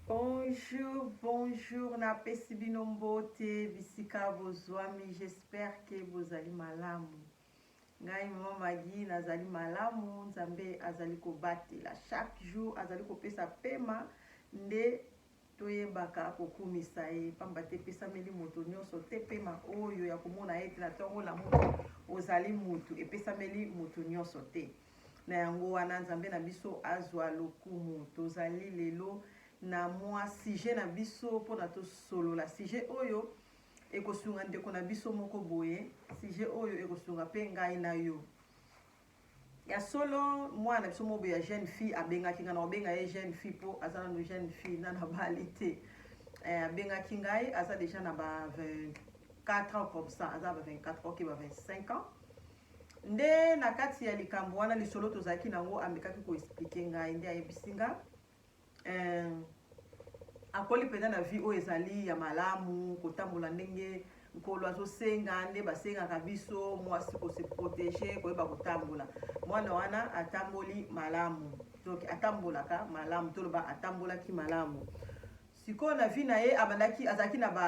Bonjour bonjour na pesi bino mbote bisika bozuami j'espère que bozali malamu ngai mama Maggie nazali malamu nzambe azali kobatela chaque jour azali kopesa pema nde toyebaka kokumisa ye mpamba te epesameli moto nyonso te mpema oyo ya komona ete na ntongo lamuka ozali motu epesameli motu nyonso te Na yango wana, Nzambe na biso azwa lokumu. Tozali lelo na mwa sujet na biso mpo na tosolola sujet oyo ekosunga ndeko na biso moko boye, sujet oyo ekosunga mpe ngai na yo. Ya solo, mwana na biso moko boye ya jeune fille abengaki ngai, nakobenga ye jeune fille mpo aza nano jeune fille, nano abali te. Eh, abengaki ngai, aza deja na ba 24 ans comme ça, aza ba 24 ans, ok, ba 25 ans. Nde na kati ya likambo wana lisolo tozalaki na yango amekaki ko expliquer ngai nde ayebisi nga eh, akoli mpenza na vie oyo ezali ya malamu kotambola ndenge nkolo azosenga nde basengaka biso mwasi kose protege koyeba kotambola mwana wana atamboli malamu donc atambolaka malamu toloba atambolaki malamu sikoyo na vie na ye abandaki azalaki na ba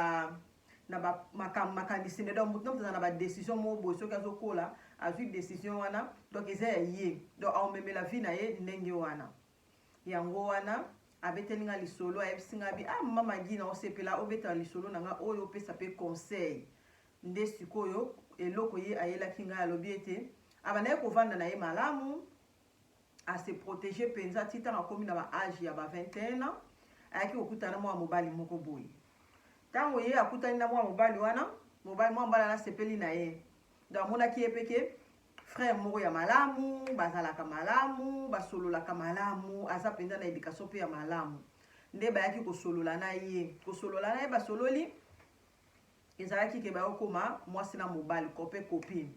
na ba makambo makanisi nde donc moto na moto aza na ba decision moko boye soki azokola azwi decision wana donc eza ya ye donc aomemela vie na ye ndenge wana yango wana abeteli nga lisolo ayebisi nga bi ah mama magi na osepela obeta lisolo na nga oyo opesa pe conseil nde sikoyo eloko ye ayelaki ngai alobi ete abandaki kovanda na ye malamu a se proteger penza ti ntango akomi na ba age ya ba 21 ans ayaki kokutana na mwana mobali moko boye ntango ye akutani na mwana mobali wana mobali mwana mobali wana asepeli na ye donc amonaki ye mpe ke frère moko ya malamu bazalaka malamu basololaka malamu aza mpenza na education mpe ya malamu nde bayaki kosolola na ye kosolola na ye basololi Ezalaki ke bayokoma mwasi na mobali, cope copine.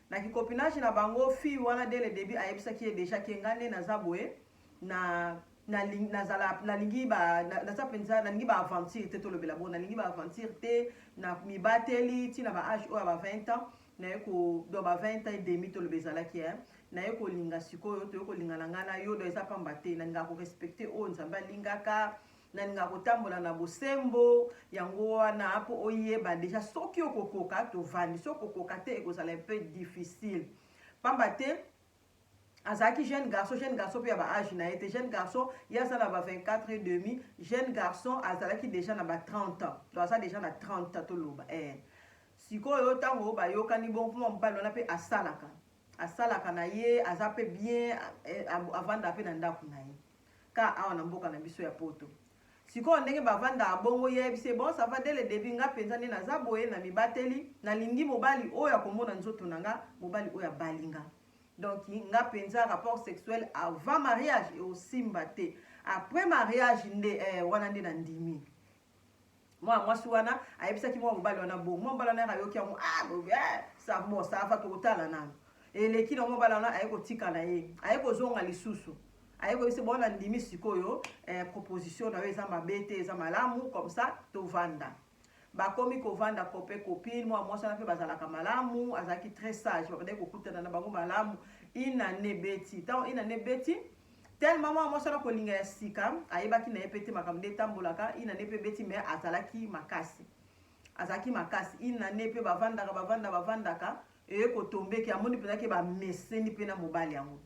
Na ki copinage na bango, fille wana dès le debut ayebisaki ye dejà ke nga nde naza boye, na naling nazala nalingi ba naza penza nalingi ba aventure te tolobela bongo nalingi ba aventure te na mibateli ti na ba age oyo ya ba 20 ans naye ko do ba 20 ans et demi toloba ezalaki eh naye kolinga sikoyo toye kolingana ngai na yo do eza pamba te nalingaka korespecte oyo nzambe alingaka Nalinga kotambola na bosembo yango wana mpo oyeba deja soki okokoka tovandi, soki okokoka te ekozala un peu difficile mpamba te azalaki jeune garçon jeune garçon mpe ya baage na ye te jeune garçon ye aza na ba 24 et demi jeune garçon azalaki deja na ba 30 ans to aza deja na 30 ans toloba eh. sikoyo ntango bayokani bongo mpo mobali wana mpe asalaka asalaka na ye aza pe bien avandaka pe na ndaku na ye ka awa na mboka na biso ya poto sikoyo ndenge bavandaka bongo ye ayebisi ye bon ça va dès le debut nga penza nde naza boye na mibateli nalingi mobali oyo akomona nzoto na nga mobali oyo abali nga donc nga penza rapport sexuel avant mariage eosimba te après mariage nde eh, wana nde nandimi mwana mwasi wana ayebisaki mwana mobali wana bongo mwana mobali wana ayoki yango ah, eh, sa bon sava tokotala nano eleki na mwana mobali wana aye kotika na ye aye kozonga lisusu aye koyebisa bongo nandimi sikoyo eh, proposition na yo eza mabe te eza malamu comme ça tovanda bakomi kovanda kope kopine mwana mwasi wana mpe bazalaka malamu azalaki très sage babandaki kokutana na bango malamu inane beti ntango inane beti Tellement mwana mwasi wana kolinga ya sika ayebaki na ye mpe te makambo nde etambolaka ina ne mpe beti me azalaki makasi azalaki makasi ina ne mpe bavandaka bavanda bavandaka eye kotombeki amoni mpenza ke bameseni mpe na mobali yango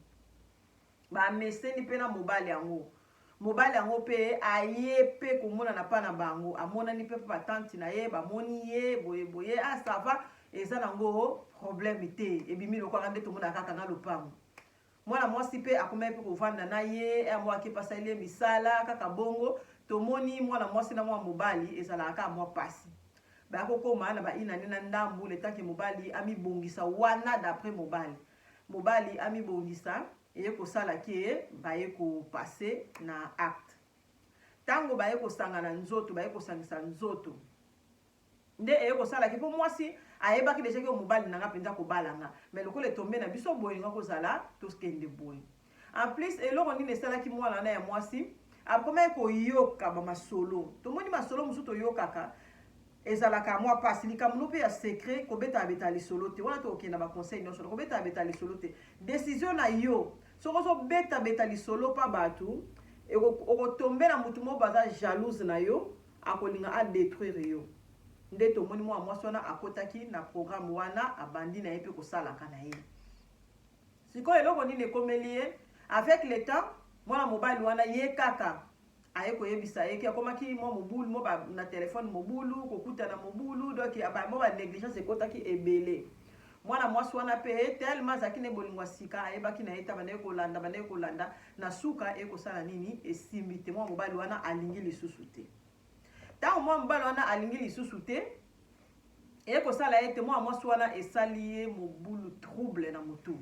bameseni mpe na mobali yango mobali yango mpe aye mpe komonana mpa na bango amonani mpe mpe batanti na ye bamoni ye boye boye ah sava eza nango problème te ebimi lokwaka nde tomonaka kaka na lopango Mwana mwasi mpe akomaki mpe kovanda na ye, un mois ake pasali ye misala kaka bongo. Tomoni mwana mwasi na mwana mobali ezalaka kaka mwa pasi. Baya kokoma na ba une annee na ndambu le temps que mobali amibongisa wana d'après mobali. Mobali amibongisa eye kosala que baye ko passer na acte. Tango baye kosangana nzoto, baye kosangisa nzoto. nde eye kosala ke po mwasi ayebaki deja ke mobali na nga penza akobala nga mais lokola etombe na biso boye nga kozala tokende boye en plus eloko nini esalaki mwana wana ya mwasi akomaki koyoka ba masolo tomoni masolo mosusu toyokaka ezalaka mwa pasi likambo no mpe ya secret kobeta abeta lisolo te wana tokokende na baconseil nyonso na kobeta abeta lisolo te desizio na yo soki ozobeta beta lisolo mpa bato okotombela motu moko baza jalouse na yo Akolinga a detruire yo nde tomoni muana mwasi wana akotaki na programme wana abandi naye pe kosalaka naye sikoyo eloko nini ekomeli ye avec le temps mwana mobali wana ye kaka aye koyebisa ye ke akomaki mwa mobulu mo ba, na telefone mobulu kokutana mobulu donc ba, mo ba negligence ekotaki ebele Mwana mwasi wana pe tellement azalaki ne bolingo ya sika, ayebaki na ye te, abandaki kolanda, abandaki kolanda, na suka ekosala nini? Esimbi te, mwana mobali wana alingi lisusu te. Tango mwana mobali wana alingi lisusu te, ekosala ete mwana mwasi wana esali ye mobulu, trouble na motu.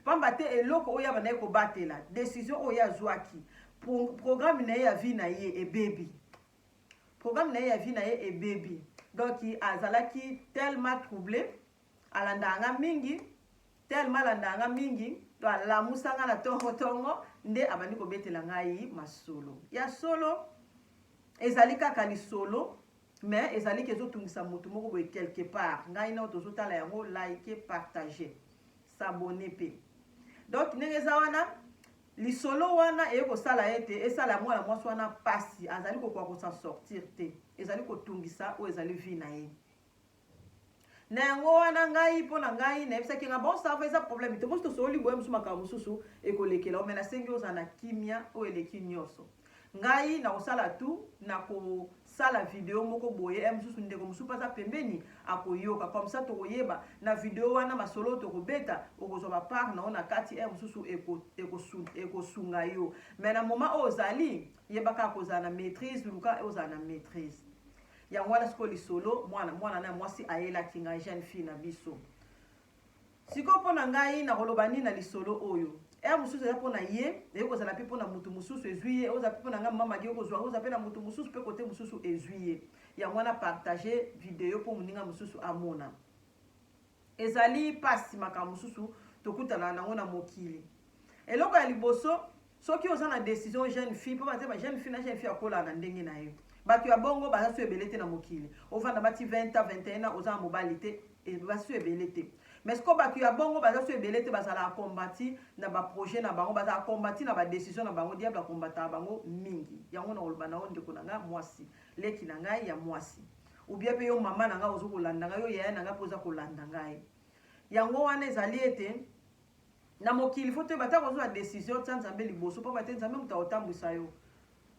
Pamba te eloko oyo abandaki kobatela, decision oyo azwaki, programme na ye ya vie na ye ebebi. Programme na ye ya vie na ye ebebi. Donc azalaki tellement trouble, alandaka nga mingi, tellement alandaka nga mingi, to alamusa nga na tongo tongo nde abandi kobetela ngai masolo. Ya solo ezali kaka lisolo mais ezali ke ezotungisa moto moko boye quelque part ngai nao tozotala yango like partage s'abonne mpe donc ndenge eza wana Lisolo wana eye kosala ete esala ya mwana mwasi wana mpasi, azali kokoka kosan sortir te, ezali kotungisa oyo ezali vie na ye. Na yango wana ngai mpo na ngai nayebisaki nga bon sava eza problème te, mosi tosololi boye mosusu makambo mosusu ekolekela yo, me nasengi ozala na kimia oyo eleki nyonso. ngai nakosala tu nakosala video moko boye ya mosusu ndeko mosusu mpe aza pembeni akoyoka comme ça tokoyeba na video wana masolo oyo tokobeta okozwa bapart na yo na kati ya mosusu ekosunga yo mai na moma oyo ozali yeba kaka kozala na maîtrise luka ozala na maîtrise yango wana sikoyo lisolo mwana mwana na mwasi ayelaki ngai jeune fille na biso Sikoyo mpo na ngai nakoloba nini na lisolo oyo? Heure mosusu eza mpo na ye, eyoki kozala mpe mpo na motu mosusu ezwi ye, oza mpe mpo na ngai mama Madi, okozwa oza mpe na motu mosusu mpe kote mosusu ezwi ye. Yango wana partage video mpo moninga mosusu amona. Ezali pasi makambo mosusu tokutana nango na mokili. Eloko ya liboso, Soki oza na decision jeune fille po baza ba jeune fille na jeune fille akola na ndenge na ye. Batu ya bongo baza su ebele te na mokili. Ovanda ba ti 20 ans, 21 ans oza na mobali te et baza su ebele te. Mais sikoyo batu ya bongo baza su ebele te bazalaka combati na ba projet na bango, bazalaka combati na ba decision na bango. Diable a combataka bango mingi. Yango na koloba na yo ndeko na nga muasi, leki na ngai ya muasi. Ou bien pe yo mama na nga ozo kolanda nga, yo yaya na nga pe oza kolanda ngai. Yango wana ezali ete. Na mokili faut toyeba ata kozwa decision tia nzambe liboso pamba te nzambe moto akotambwisa yo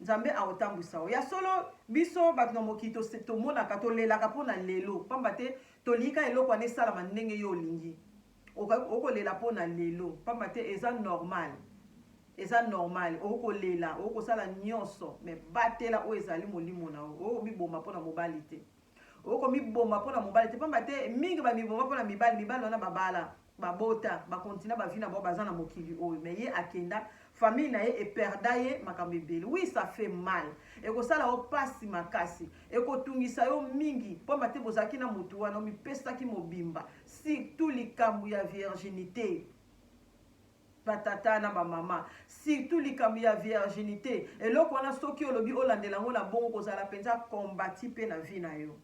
nzambe akotambwisa yo ya solo biso bato na mokili tose tomonaka tolelaka mpo na lelo pamba te tolingi kaka eloko wana esalama ndenge yo olingi okolela mpo na lelo pamba te eza normal eza normal okolela okosala nyonso me batela oyo ezali molimo na yo okomiboma mpo na mobali te Oko miboma pona mobali te pamba te mingi ba miboma pona mibali mibali wana babala babota ba continua ba vie na bango baza na mokili oyo mais ye akenda famille na ye eperda ye makambo ebele oui ça fait mal ekosala yo pasi makasi ekotungisa yo mingi pamba te bozalaki na motu wana omipesaki mobimba surtout likambo ya virginite ba tata na ba mama surtout likambo ya virginite eloko wana soki olobi olandela yango na bongo kozala mpenza combati mpe na vie na yo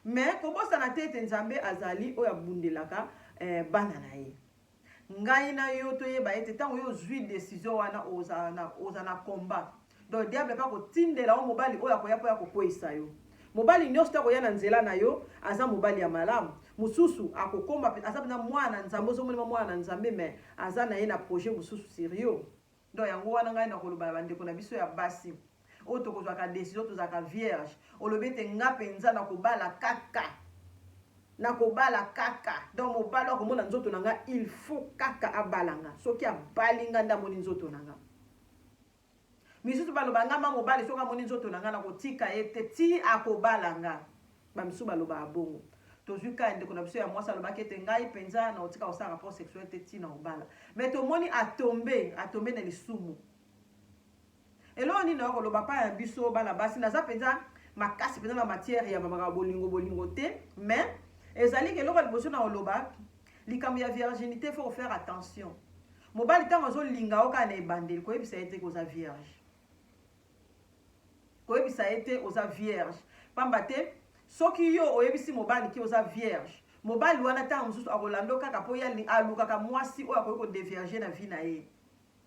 mais kobosana te ete nzambe azali oyo abundelaka eh, bana na ye ngai na yo toyeba ete ntango yo ozwi desizio wana ozala na combat Donc diable pe akotindela yo mobali oyo akoya mpo akokweyisa yo. Mobali nyonso te akoya na nzela na yo aza mobali ya malamu. Mosusu akokoma aza mpenza mwana na Nzambe, ozo monema mwana na Nzambe mais aza na ye na projet mosusu sur yo. Donc yango wana ngai nakoloba na bandeko na biso ya basi oyo tokozwaka decision tozalaka vierge, olobi ete nga mpenza nakobala kaka nakobala kaka donc mobali oyo akomona nzoto na nga il faut kaka abala nga, soki abali nga nde amoni nzoto na nga. Misusu baloba nga ma mobali soki amoni nzoto na nga na kotika ye te ti akobala nga. Ba misusu balobaka bongo. Tozui cas ya ndeko na biso ya mwasi alobaki ete ngai penza na kotika kosala rapport sexuel te ti na kobala. Mais tomoni a tombe, a tombe na lisumu. Eloko nini nayo koloba pa ya biso bana basi naza penza makasi penza na matière ya makambo bolingo bolingo te mais ezali ke eloko ya liboso na koloba likambo ya virginité faut faire attention. Mobali tango azo linga yo kaka na ebandeli koyebisa ye te ke oza vierge. Koyebisa ye te oza vierge. Pamba te soki yo oyebisi mobali ke oza vierge, mobali wana tango mosusu akolanda yo kaka po ye alukaka mwasi oyo akoki ko devierger na vie na ye.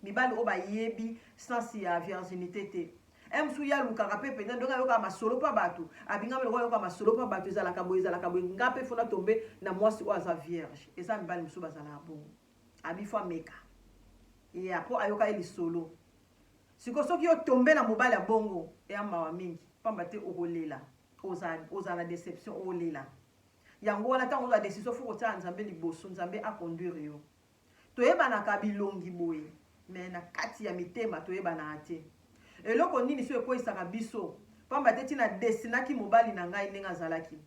Mibali oyo bayebi sens ya virginite te. Ye mosusu ye alukaka pe penza ndenge ayokaka masolo pa batu, abingami lokola ayoka masolo pa batu ezalaka boye ezalaka boye nga pe faut na tomber na mwasi oyo aza vierge. Eza mibali mosusu bazalaka bongo. Abi faut ameka. Yeah, po ayoka ye lisolo. Siko soki yo tombe na mobali ya bongo, eya mawa mingi. Pamba te okolela. Oza, oza na deception, olela. Yango wana tango oza decision faut kotia Nzambe liboso, Nzambe a conduire yo. Toyebanaka bilongi boye, mais na kati ya mitema toyebanaka te. Eloko nini so ekweisaka biso? Pamba te tina dessinaki mobali na ngai ndenge azalaki.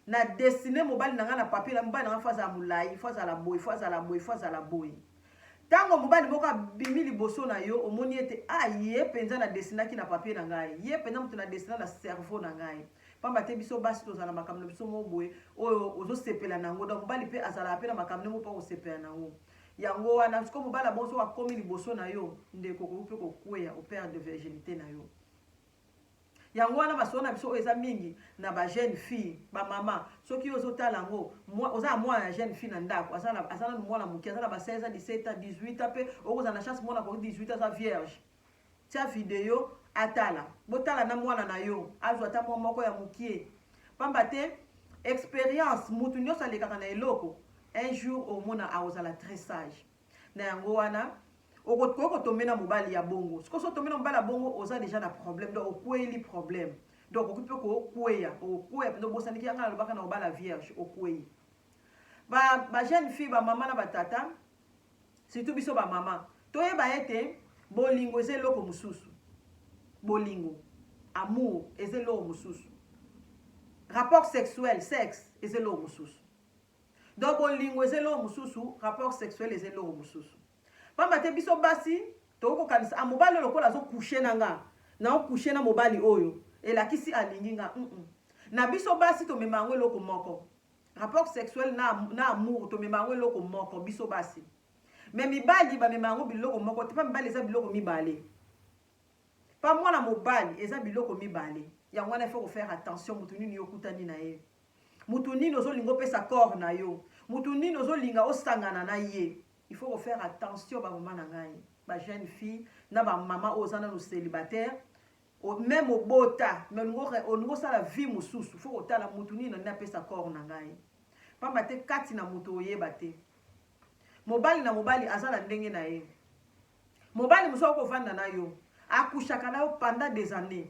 Na dessiner mobali na ngai na papier, mobali na ngai faut azala mulayi, faut azala boye, faut azala boye, faut azala boye. Tango mobali moko abimi liboso na yo, omoni ete ah ye penza na dessinaki na papier na ngai, ye penza mutu na dessina na cerveau na ngai. Pamba te biso basi tozala na makambo na biso moko boye oyo ozo sepela na yango. Donc mobali pe azalaka pe na makambo ndenge moko pe ako sepela na yango. Yango wana sikoyo mobali ya bongo soki akomi liboso na yo, ndeko okoki pe ko kweya, o perdre virginite na yo. Yango wana masolo na biso oyo eza mingi na ba jeune fille ba mama soki yo ozo tala yango oza na mwana ya jeune fille na ndako aza na aza na mwana moke aza na ba 16 ans 17 ans 18 ans pe okozala na chance mwana ko 18 ans aza vierge tia video atala botala na mwana na yo azwa ata mwa moko ya mokie pamba te experience mutu nyonso alekaka na eloko un jour omona akozala très sage Na yango wana okoki kotombe na mobali ya bongo. Sikoyo soki otombe na mobali ya bongo, oza deja na problème, donc okweyeli problème. Donc okoki mpe kokweya, okokweya mpenza, obosaniki ya ngai nalobaka na obala vierge, okweyi. Ba, ba jeune fille, ba mama na ba tata, surtout biso ba mama, toyeba ete bolingo eza eloko mosusu. Bolingo, amour, eza eloko mosusu. Rapport sexuel, sexe, eza eloko mosusu. Donc bolingo eza eloko mosusu, rapport sexuel eza eloko mosusu. Pamba te biso basi tokoki kokanisa ah mobali oyo lokola azo coucher na nga, nao coucher na mobali oyo elakisi alingi nga hum hum. Na biso basi tomema yango eloko moko. Rapport sexuel na na amour tomema yango eloko moko biso basi. Mais mibali bamema yango biloko moko te, pa mibali eza biloko mibale. Pa mwana mobali eza biloko mibale. Yango wana il faut ko faire attention mutu nini yo okutani na ye. mutu nini ozo linga opesa corps na yo mutu nini ozo linga osangana na ye il faut ko faire attention ba maman na ngai ba jeune fille na ba maman oyo oza nanu celibataire meme obota me olingi osala vie mosusu faut kotala mutu nini nani apesa corps na ngai pamba te kati na mutu oyeba te mobali na mobali aza na ndenge na ye Mobali mosusu akoki kovanda na yo, akushaka na yo pendant des annees,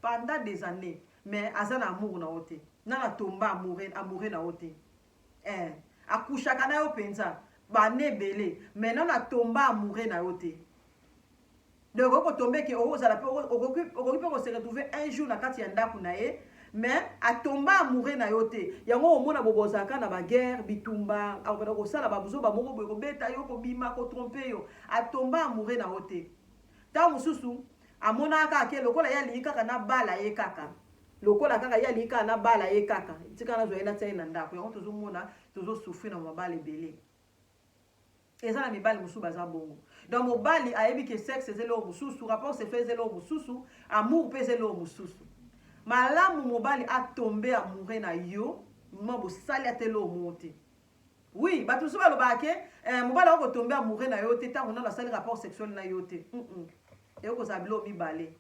pendant des annees, mais aza na amour na yo te, na na tomba amoureux, amoureux na yo te eh, akushaka na yo penza ba annees ebele, mais na na tomba amoureux na yo te. Donc okoki kotombe ke okozala pe okoki pe ko se retrouver un jour na kati ya ndaku na ye Mais a tomba amoureux na yo te yango oko mona bobo ozalaka kaka na ba guerre bitumba ako banda ko sala ba buzoba moko boye ko beta yo ko bima ko trompe yo a tomba amoureux na yo te tango mosusu a monaka kaka ke lokola ye alingi kaka na bala ye kaka lokola kaka ye alingi kaka na bala ye kaka tika na zwa ye na tia ye na ndako yango tozo mona tozo souffrir na mabala ebele Eza na mibali mususu baza bongo. Donc mobali ayebi ke sexe eza eloko mususu, rapport sexuel eza eloko mususu, amour pe eza eloko mususu. Malamu mobali a tomber amoureux na yo moment bosali ata eloko moko te. Oui, batu mususu balobaka ke eh, mobali ako tomber amoureux na yo te tango nanu asali rapport sexuel na yo te. Mm, -mm. Ekoki kozala biloko mibale.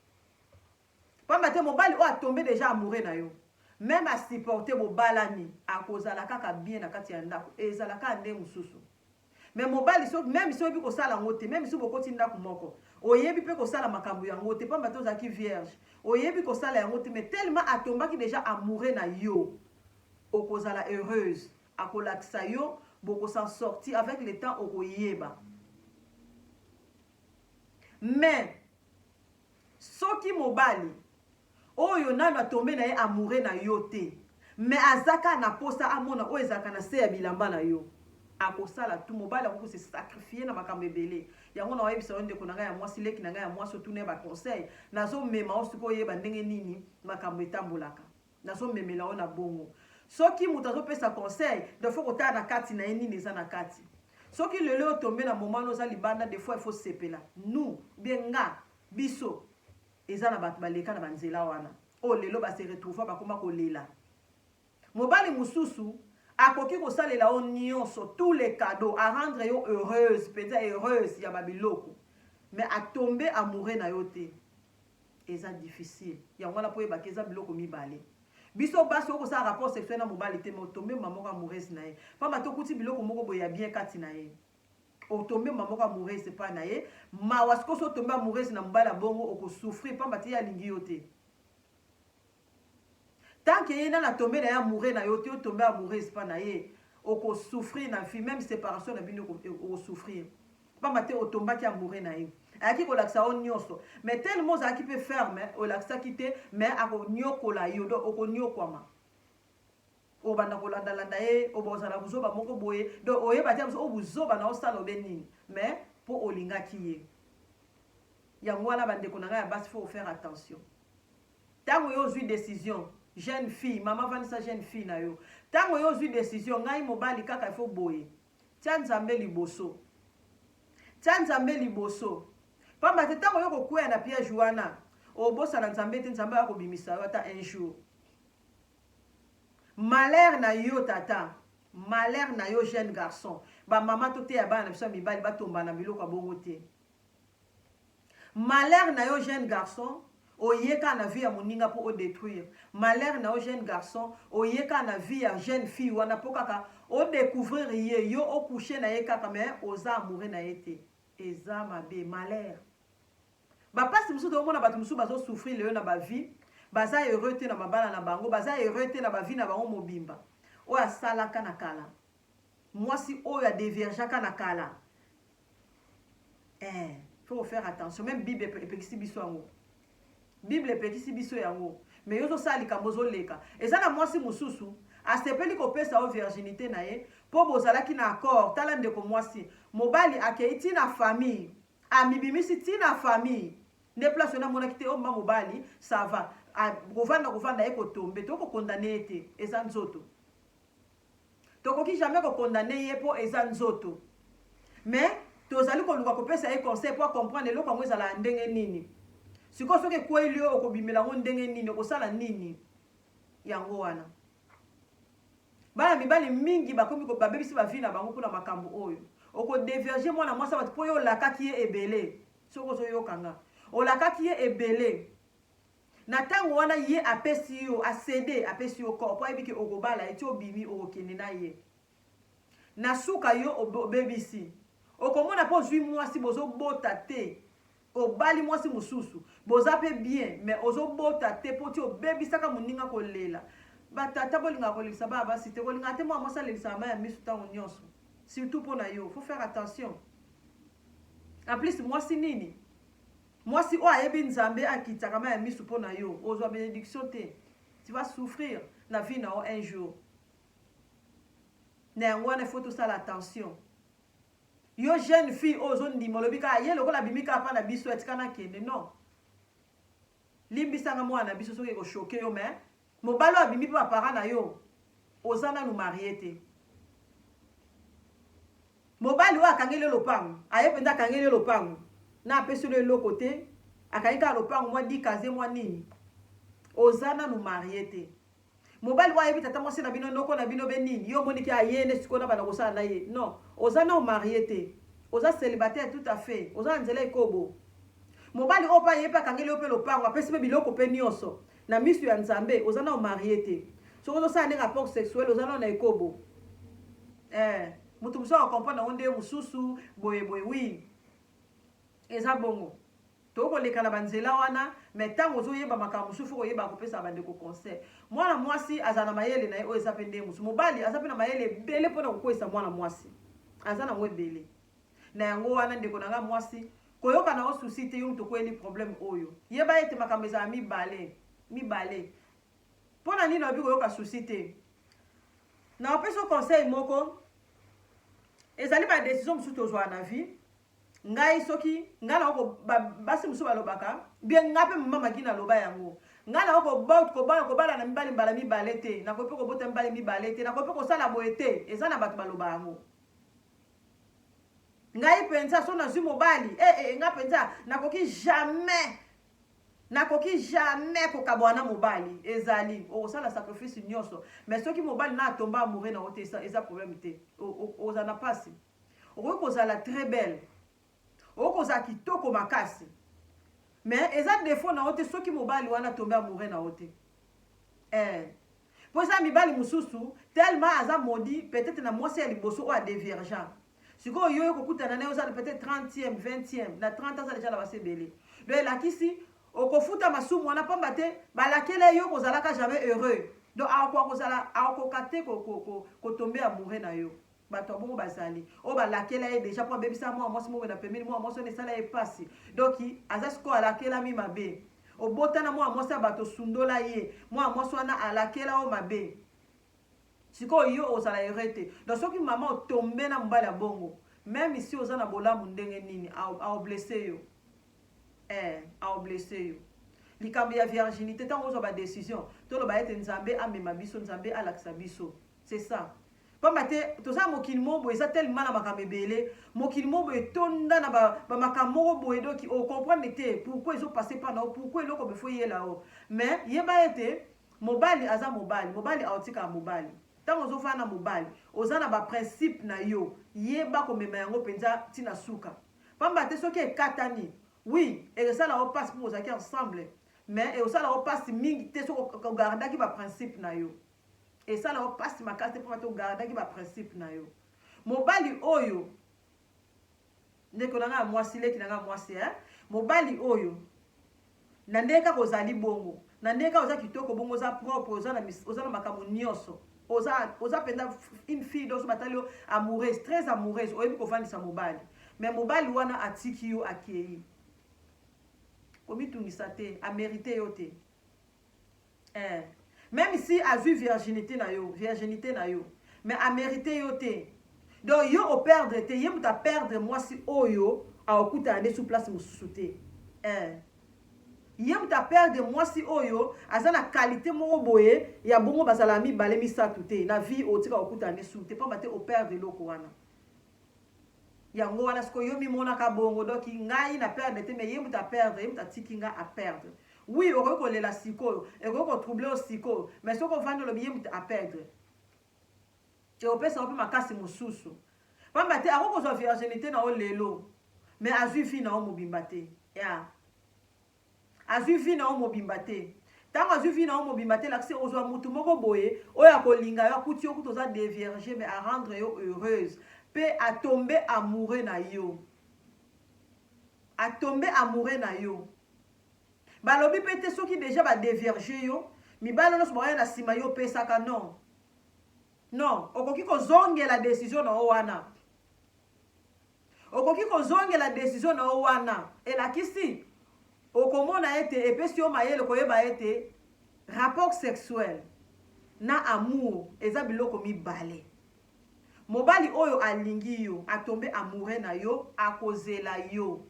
Pamba te mobali oyo a tomber dejà amoureux na yo meme a supporter bobalani akozala kaka bien na kati ya ndaku ezala kaka ndenge mususu mais mobali soki meme soyebi kosala ngo te meme soki bokoti ndaku moko oyebi pe kosala makambu ya ngo te pamba te ozalaki vierge oyebi kosala ya ngo te mais tellement a tombaki dejà amoureux na yo okozala heureuse akolakisa yo boko s'en sorti avec le temps okoyeba mais Soki mobali Oyo nanu a tomber naye amoureux na yo te mais aza kaka na posa amona oyo ezalaka na se ya bilamba na yo akosala tout mobali akoki ko se sacrifier na makambo ebele yango nao yebisa yo ndeko na ngai ya mwasi leki na ngai ya mwasi otuna ye ba conseil nazo mema yo sikoyo oyeba ndenge nini makambo etambolaka. Nazo memela yo na bongo. Soki mutu azo pesa conseil, donc il faut ko tala na kati na ye nini eza na kati. Soki lelo o tomber na moment wana oza libanda, des fois il faut sepela. Nous, ou bien nga, biso, eza na batu ba leka na ba nzela wana. Oyo lelo ba se retrouva ba koma ko lela. Mobali mususu, akoki ko salela yo nionso, tous les cadeaux, a rendre yo heureuse, penza heureuse ya ba biloko. Mais a tomber amoureux na yo te. eza difficile yango wana po yebaka eza biloko mibale biso basi oko sa rapport sexuel na mobali te mais otombe mba moko amoureuse na ye pamba to kuti biloko moko boye ya bien kati na ye otombe mba moko amoureuse pa na ye mawa sikoso otombe amoureuse na mobali abongo oko souffrir pamba te ye alingi yo te Tant que ye nanu a tomber naye amoureux nayo te, o tomber amoureuse pa naye, oko souffrir na vie, meme separation na bino oko souffrir. Pamba te o tombaki amoureux naye. Ayaki ko lakisa yo nionso, mais tellement ozalaki pe ferme, olakisaki te, mais ako niokola yo, donc oko niokwama. Obanda ko landa landa ye, obo ozala buzoba moko boye, donc oyeba te o buzoba nayo osala obe nini, mais po olingaki ye. Yango wana ba ndeko na ngai ya basi faut ko faire attention. Tango yo ozui decision jeune fille maman vandisa jeune fille na yo tango yo ozui decision ngai mobali kaka il faut boye tia nzambe liboso tia nzambe liboso pamba te tango yo kokueya na piège wana obosana nzambe te nzambe aya kobimisa yo ata un jour malheur na yo tata malheur na yo jeune garçon bamama toteya bana na biso ya mibali batombana biloko ya bongo te Malheur na yo jeune garçon oye kaka na vie ya moninga po o detruire malheur na yo jeune garçon oye kaka na vie ya jeune fille wana po kaka o decouvrir ye yo o couche na ye kaka mais oza amoureux na ye te eza mabe malheur ba pasi mosusu tozo mona batu mosusu bazo souffrir leyo na ba vie baza heureux te na mabala na bango baza heureux te na ba vie na bango mobimba oyo asalaka na kala mwasi oyo a deviagaka na kala eh, faut faire attention même bible epekisi biso yango bible epekisi biso yango me yo ozosala likambo ozoleka eza na mwasi mosusu asepeli kopesa yo virginité na ye mpo bozalaki na accord tala ndeko mwasi mobali akei ti na famille amibimisi ti na famille nde place wana amonaki te omba oh, mobali sava kovanda kovanda ye kotombe to kokondane ye te eza nzoto Tokoki jamais ko condamner ye po eza nzoto mais tozali koluka kopesa ye conseil po a comprendre eloko yango ezalaka ndenge nini. Sikoyo soki ekueyli yo okobimela yango ndenge nini? Okosala nini? Yango wana bana mibali mingi bakomi babebisi ba vie na bango pona makambo oyo. Oko devierger mwana mwasi ya batu po yo olakaki ye ebele soki ozoyoka nga. Olakaki ye ebele. Na tango wana ye apesi yo a cede apesi yo corps po ayebi ke okobala ye ti obimi okokende na ye na suka yo obebisi okomona pe ozui muasi bozo bota te obali muasi mususu boza pe bien mais ozo bota te po ti obebisaka muninga kolela ba tata bolingaka kolelisa bana basi te kolingaka te mwana muasi alelisaka mai ya misu tango nionso surtout po na yo faut faire attention en plus muasi nini Mwasi oyo ayebi nzambe akitaka mayi ya misu pona yo ozua benediction te tu vas souffrir na vie na yo un jour na yango wana il faut tosala attention yo jeune fille oyo ozondima olobi kaka ye lokola abimi kaka mpa na biso atika nakende non limbisanga mwana na biso soki ekoshoke yo me Mobali oyo abimi pe ba parents na yo oza nanu marie te mobali oyo akangeli yo lopango aye penza akangeli yo lopango na apesi yo eloko te akangi kaka lopango mwa dikaze mwa nini oza nanu marie te mobali oyo ayebi tata mwasi na bino noko na bino be nini yo omoni ke aye nde sikoyo na bana kosala na ye non oza nanu marie te oza célibataire tout à fait oza na nzela ekobo mobali oyo mpe aye mpe akangeli yo mpe lopango apesi mpe biloko mpe nyonso Na misu ya nzambe oza nao marie te soki ozo sala nde rapport sexuel oza nao na ekobo eh mutu mususu ako comprendre yango nde mususu boye boye oui eza bongo tokoki koleka na ba nzela wana mais tango ozo yeba makambo mususu faut koyeba kopesa ba ndeko conseil mwana mwasi azala na mayele naye oyo eza pe nde mususu mobali aza pe na mayele ebele pona kokweyisa mwana mwasi aza nango ebele Na yango wana ndeko na nga mwasi, koyoka na yo souci te, yo moto okweli problème oyo. Yeba ete makambo ezala mibale, mibale. Mpo na nini olobi koyoka souci te? Nakopesa yo conseil moko, ezali ba decision mosusu tozwaka na vie. Ngai soki ngai nako basi mosusu balobaka bien, ngai mpe mama magi naloba yango ngai nako kobala kobala na mibali mbala mibale te, nakoki mpe kobota mibali mibale te, nakoki mpe kosala boye te, eza na bato baloba yango. Ngai penza soki nazui mobali eh eh nga penza nakoki jamais nakoki jamais kokaboa na mobali ezali okosala sacrifice nioso mais soki mobali na atomba amoureux na yo te eza problème te ozala na pasi okoki kozala très belle Okozala kitoko makasi mais eza defaut na yo te soki mobali wana atombe amoureux na yo te eh po eza mibali mosusu tellement aza maudit peut-etre na mwasi ya liboso oyo adeviergent sikoyo yo okokutana na ye oza peut-etre 30e 20e na 30 aza deja na basi ebele donc elakisi okofuta masumu wana pamba te balakela ye yo kozalaka jamais heureux donc akoka kozala akoka te kotombe amoureux na yo bato ya bongo bazali oyo balakela ye deja mpo abebisa mwana mwasi moko na pembeni mwana mwasi wana esala ye mpasi donki aza sikoyo alakelami mabe obota na mwana mwasi ya bato osundola ye mwana mwasi wana alakela yo mabe sikoyo yo ozala ere te don soki mama otombe na mobali ya bongo meme isi oza na bolamu ndenge nini aoblese yo eh, aoblese yo likambo ya virginité ntango ozwa badecision toloba ete nzambe amema biso nzambe alakisa biso C'est ça. Pamba te toza na mokili moko boye eza tellement na makambo ebele, mokili moko boye etonda na ba, ba makambo moko boye donc o comprendre te pourquoi ezo passer epai na yo, pourquoi eloko boye faut eyela yo. Mais yeba ete mobali aza mobali, mobali akotikala mobali. Tango ozo fanda na mobali, oza na ba principes na yo, yeba komema yango penza ti na suka. Pamba te soki ekatani, oui ekosala yo pasi po bozalaki ensemble, mais ekosala yo pasi mingi te soki o gardaki ba principes na yo. esala yo pasi makasi te mpona togardaki baprincipe na yo mobali oyo ndeko na ngai ya mwasi leki na ngai ya mwasi eh? mobali oyo na ndenge kaka ozali bongo na ndenge kaka oza kitoko bongo oza propre oza na, oza na makambo nyonso oza oza mpenza une fille donso batali yo amoureuse très amoureuse oyebi kovandisa mobali me mobali wana atiki yo akei komitungisa te amerite yo te Eh. Meme si azui virginite na yo, virginite na yo, mais a merite yo te. Donc yo o perdre te, ye moto a perdre mwasi oyo akokutana nde sous place mosusu te. Eh. Ye moto a perdre mwasi oyo aza na qualité moko boye ya bongo bazala mibale misato te na vie otika kokutana nde sous te pamba te o perdre eloko wana. Yango wana sikoyo yo mimonaka bongo donc ngai na perdre te mais ye mutu a perdre ye mutu atiki nga a perdre oui okoki kolela sikoyo ekoki ko troubler yo sikoyo mais soki ovandi olobi ye mutu a perdre ekopesa yo mpe makasi mosusu pamba te akoki kozwa virginité na yo lelo mais azwi vie na yo mobimba te ya yeah. Azui vie na yo mobimba te. Tango azui vie na yo mobimba te elakisi okozua mutu moko boye oyo akolinga yo akuti yo kutu oza devierge mais a rendre yo heureuse pe a tombe amoureux na yo. A tombe amoureux na yo. Balobi pe te soki dejà ba devierge yo mibali nionso bakoya na sima yo opesaka non. Non, okoki kozongela decision na yo wana. Okoki kozongela desizio na yo wana elakisi okomona ete epesi yo mayele koyeba ete rapport sexuel na amour eza biloko mibale. Mobali oyo alingi yo, a tomber amoureux na yo, akozela yo.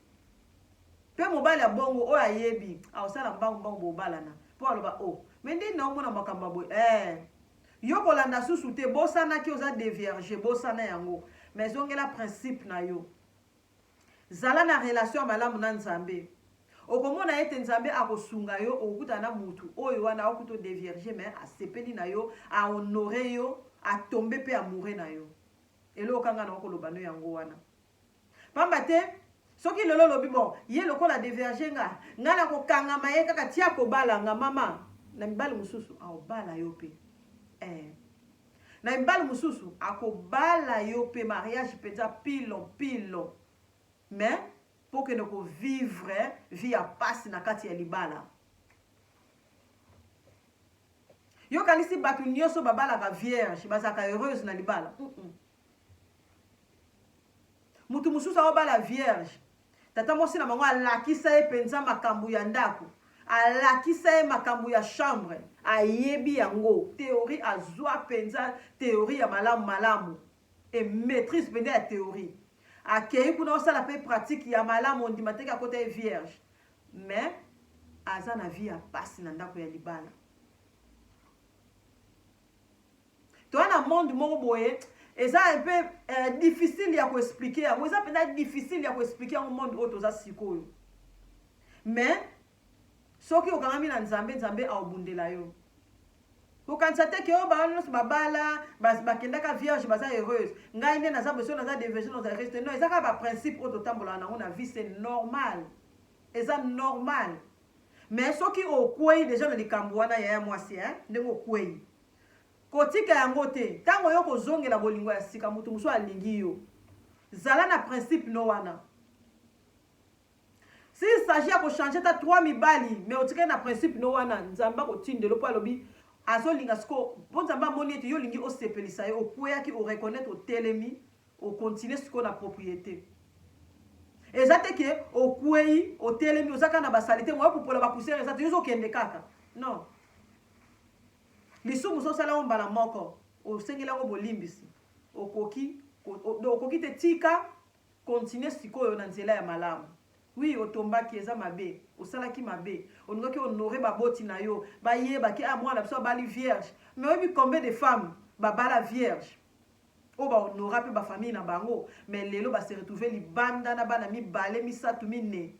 Mpe mobali ya bongo oyo ayebi, akosala mbangu mbangu bobalana. Mpo aloba, oh, mais ndenge naomona makambo ya boye, ee, Yo kolanda susu te bosana ke oza devierge bosana yango mais zongela principe na yo zala na relation ya malamu na nzambe okomona ete nzambe akosunga yo okokutana na mutu oyo wana akuti o devierge mais asepeli na yo a honore yo a tombe pe amoureux na yo eloko kaka nga naokoloba no yango wana Pamba te soki lelo olobi bon ye lokola deverge nga nga nako kangama ye kaka ti ako bala nga mama na mibali mususu ao bala yo pe eh na mibali mususu ako bala yo pe mariage penza pilo pilo mais po kende ko vivre vie ya pasi na kati ya libala Yo kanisi batu nioso babalaka vierge bazalaka heureuse na libala mm -mm. Mutu mususu aobala vierge. Tata mwasi na bango alakisa ye penza makambu ya ndaku. Alakisa ye makambu ya chambre. Ayebi yango. Theorie azua penza theorie ya malamu malamu et maitrise penza ya theorie. Akeyi kuna osala pe pratique ya malamu ondima te ke akota ye vierge. Mais aza na vie ya pasi na ndaku ya libala. toza na monde moko boye eza un peu euh, difficile ya koexplike yango eza mpenza difficile ya koexplike yango monde oyo toza sikoyo mais soki okangami na nzambe nzambe aobundela yo kokanisa te ke oyo oh, bawana nyonso babala bakendaka vierge baza heureuse ngai nde naza beso naza deverge naza heureuse te non eza kaka baprincipe oyo totambolaka nango na vie c'est normal eza normal mais soki okwei deja na likambo wana yaya mwasi ndenge okwei Kotika yango te. Tango yo kozongela bolingo ya sika mutu mosusu alingi yo. Zala na principe no wana. S'il s'agit ya ko changer ata trois mibali mais otikali na principe no wana, Nzambe akotindela yo po alobi azolinga sikoyo po Nzambe amoni ete yo olingi osepelisa ye, okueyaki o reconnaitre otelemi, o continuer sikoyo na propriete. Eza te que okueyi, otelemi, oza kaka na ba salite, moyen ya kopola ba poussière eza te, yo ozokende kaka. Non. Lisumu soki osali yango mbala moko, osengeli yango bolimbisi, okoki ko, o, donc okoki te. Tika continuer sikoyo na nzela ya malamu. Oui, otombaki, eza mabe, osalaki mabe, olingaki o honorer baboti na yo, bayeba ke, ah, mwana na biso abali vierge. Mais oyebi combien de femmes babala vierge, oyo ba honora pe ba familles na bango, mais lelo ba se retrouver libanda na bana mibale, misatu, minei.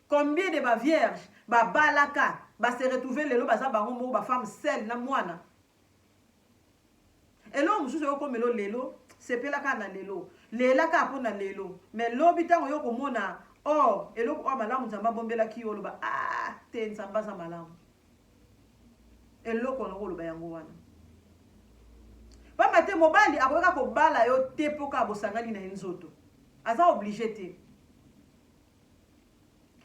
Combien de ba vierges ba balaka ba se retrouver lelo baza bango moko ba femme seule na mwana? Eloko mosusu eko komela yo lelo, sepela kaka na lelo, lela kaka mpo na lelo mais lobi tango yo okomona or eloko oyo malamu Nzambe abombelaki yo oloba aah te Nzambe aza malamu. Eloko na koloba yango wana. Pamba te mobali akoki kaka kobala yo te mpo kaka bosangani na ye nzoto. Aza oblige te.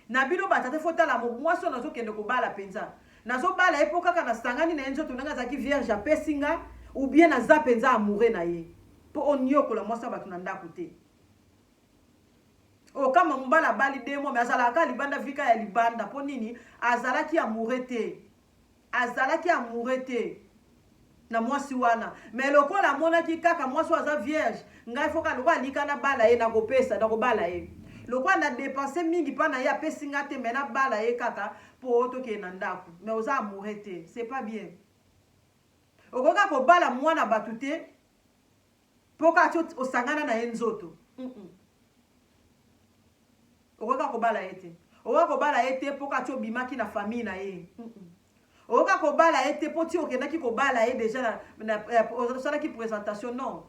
Na bino ba tata, faut tala mwasi oyo nazokende kobala penza. Nazobala ye mpo kaka nasangani na ye nzoto ndenge azalaki vierge apesi nga ou bien naza penza amoureux na ye. Mpo oniokola mwasi ya bato na ndako te. Oh kama mobali abali deux mois mais azalaka kaka libanda vie kaka ya libanda mpo nini azalaki amoureux te azalaki amoureux te na mwasi wana mais lokola amonaki kaka mwasi oyo aza vierge ngai foka lokola alika nabala ye nakopesa nakobala ye lokola na depense mingi mpa na ye apesi ngai te mais nabala ye kaka mpo tokende na ndako mais oza amoureux te c'est pas bien okoki kaka kobala mwana bato te Po kaka ti osangana na ye nzoto humm okoki kaka kobala ye te okoki kaka kobala ye te po kaka ti obimaki na famille na ye humm okoki kaka kobala ye te po ti okendaki kobala ye deja na, na, na osalaki presentation non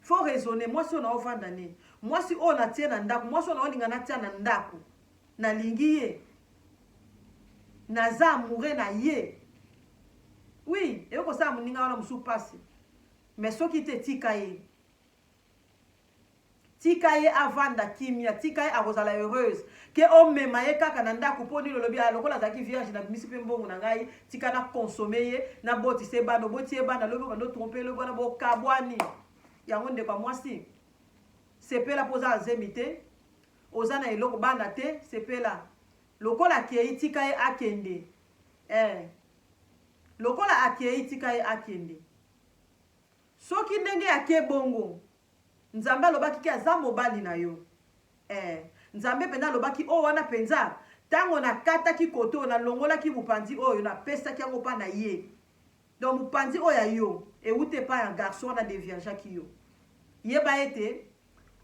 faut raisonner mwasi oyo naovanda ne mwasi oyo natie na ndako mwasi oyo naolinga natia na ndako nalingi ye naza amoureux na ye oui eyo kosala moninga wana mosusu mpasi Mais soki te tika ye. Tika ye avanda kimia, tika ye akozala heureuse. Ke omema ye kaka na ndaku po nini olobi ah lokola azalaki vierge na bimisi pe mbongo na ngai, tika na consommer ye, na botisa ye bana, oboti ye bana lobi obanda otromper ye lobi wana bo kabwani. Yango ndeko ya mwasi sepela po oza na zemi te, oza na eloko bana te, sepela. Lokola akeyi tika ye akende. Eh. Lokola akeyi tika ye akende. Soki ndenge ya ke bongo nzambe alobaki ke aza mobali na yo eh nzambe penza alobaki oyo wana penza tango na kataki kote oyo na longolaki mupanzi oyo na pesaki yango pa na ye donc mupanzi oyo ya yo ewuti epai ya garçon wana deviergeaki yo yeba ete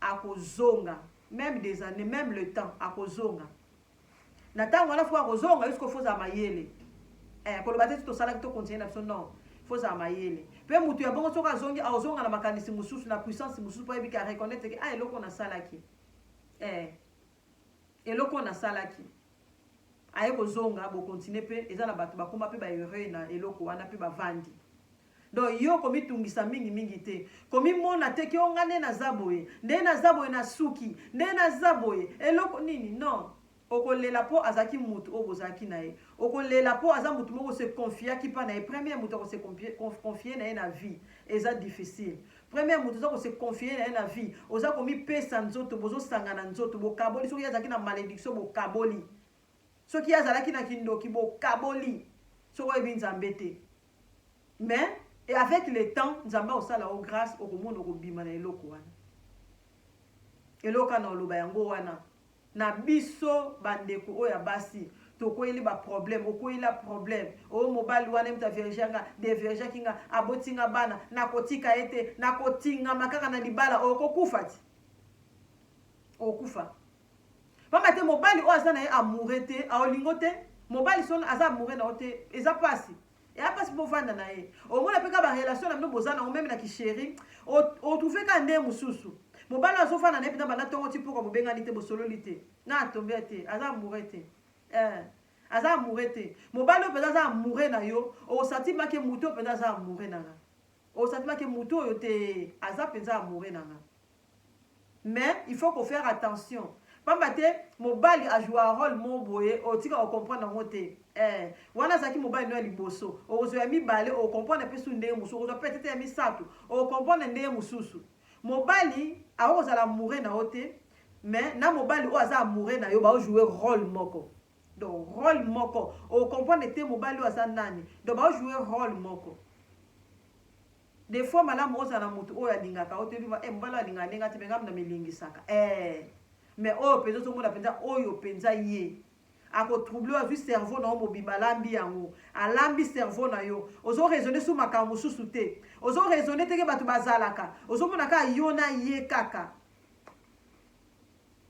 akozonga meme des annees meme le temps akozonga na tango wana fo akozonga yo sikoyo fozala mayele eh, koloba te ti tosalaki to continue na biso non fozala mayele mpe motu ya bongo soki azongi akozonga na makanisi mosusu na puissance mosusu mpo ayebi ke areconnaitre ke a ah, eloko nasalaki eh. Eloko nasalaki aye kozonga bo continue pe eza na batu bakoma pe ba heureux na eloko wana pe bavandi donc yo komitungisa mingi mingi te komimona te ke o nga nde naza boye nde naza boye na suki nde naza boye eloko nini non okolela po azalaki mutu oyo bozalaki na ye okolela po aza mutu moko se confiaki pa na ye premier mutu ako se confie na ye na vie eza difficile Premier mutu oza ko se confier naye na vie oza komi pesa nzoto bozo sangana nzoto bokaboli soki ye azalaki na malediction bokaboli soki ye azalaki na kindoki bokaboli soki oyebi nzambe te mais et avec le temps nzambe akosala yo grace okomona okobima na eloko wana eloko wana oloba yango wana Na biso ba ndeko oyo ya basi tokweyeli ba problème okweyi la problème oh mobali wana ye moto a viergea nga de viergeaki nga aboti nga bana nakotika ye te nakotingama kaka na libala okokufa ti okokufa pamba te mobali oyo aza na ye amoureux te aolingo te mobali son aza amoureux na yo te eza pasi eya pasi mpo ovanda na ye omona mpe kaka barelation na bino boza nango meme na kisheri otrouve kaka nde mosusu mobali oyo azofanda na ye mpenza banda ntongo ti mpokwa bobengani te bosololi te na atombe te aza amoure te eh. aza amoure te mobali oyo mpenza aza amoure na yo osati make moto oyo mpenza aza amoure na nga osati make moto oyo te aza mpenza amoure na nga mais il faut ko faire attention pamba te mobali a jouaka role moko boye otika ko comprendre yango te ee wana azalaki mobali no ya liboso okozwa ya mibale oko comprendre pe su ndenge mosusu okozwa petete ya misato oko comprendre ndenge mosusu mobali akoki kozala amoureux na yo te mais na mobali oyo aza amoureux na yo bao jouer role moko donc role moko oko comprendre te mobali oyo aza nani donc bao jouer role moko De fois malamu ozala na mutu oyo alingaka yo te eluba eh mobali oyo alingaka nde nga te mais nga na milengisaka eh mais oyo penza ozomona penza oyo penza ye ako trouble azwi cerveau na yo mobimba alambi yango alambi cerveau na yo ozo raisonner sur makambo mosusu te ozo raisonner teke bato bazalaka ozomona kaka yo na ye kaka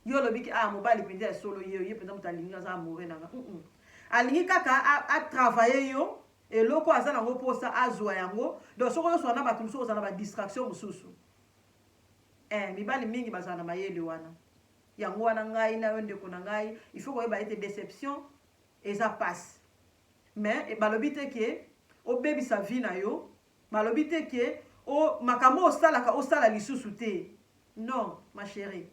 yo olobi ke ah mobali penza ya solo ye ye penza moto alingi aza amoureux na nga mm -mm. alingi kaka atravaille yo Eloko aza nango posa azua yango donc soki ozo swana na batu mususu okozala na ba distraction mususu eh mibali mingi bazala na mayele wana yango wana ngai na yo ndeko na ngai il faut koyeba ete deception eza pasi mais balobi te ke obebisa vie na yo balobi te ke o makambo osalaka osala lisusu te non ma chérie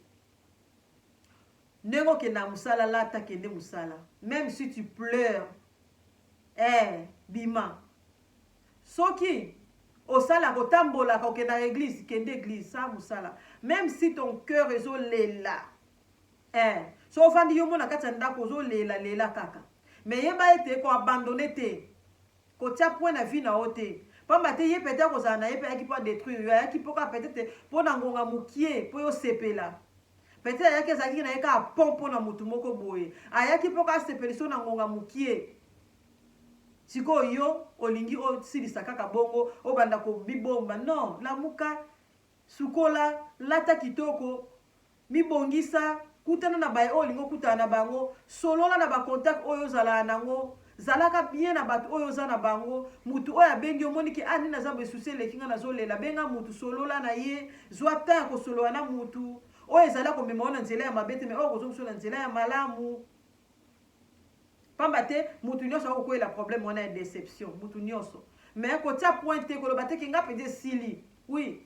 Ndenge okendaka musala lata kende musala meme si tu pleure eh bima soki osalaka otambolaka okendaka eglise kende eglise sala musala meme si ton cœur ezolela eh so ovandi yo mona kati ya ndako ozolela lela kaka me yeba ete ko abandonne te Kotia point na vie na yo te. Pamba te ye peut-etre kozala na ye pe ayaki po a detruire yo, ayaki po kaka peut-etre po na ngonga mukie po yo sepela. Peut-etre ayaki ezalaki na ye kaka pont po na mutu moko boye. Ayaki po kaka asepelisa yo na ngonga mukie. Sikoyo yo olingi osilisa kaka bongo, obanda ko mibomba. Non, lamuka, sukola, lata kitoko, Mibongisa, kutana na baye oyo olingi okutana na bango, solola na ba contact oyo ozalaa nango, zalaka bien na batu oyo oza na bango, mutu oyo abengi yo omoni ke ah nini naza boye souci eleki nga nazo lela, benga mutu solola na ye, zua temps ya kosolola na mutu oyo ezali akomema yo na nzela ya mabe te mais oyo akozongisa yo na nzela ya malamu. Pamba te mutu nionso akoki kokweyela problème wana ya deception, mutu nionso mais kotia pointe te, koloba te ke nga penza esili oui.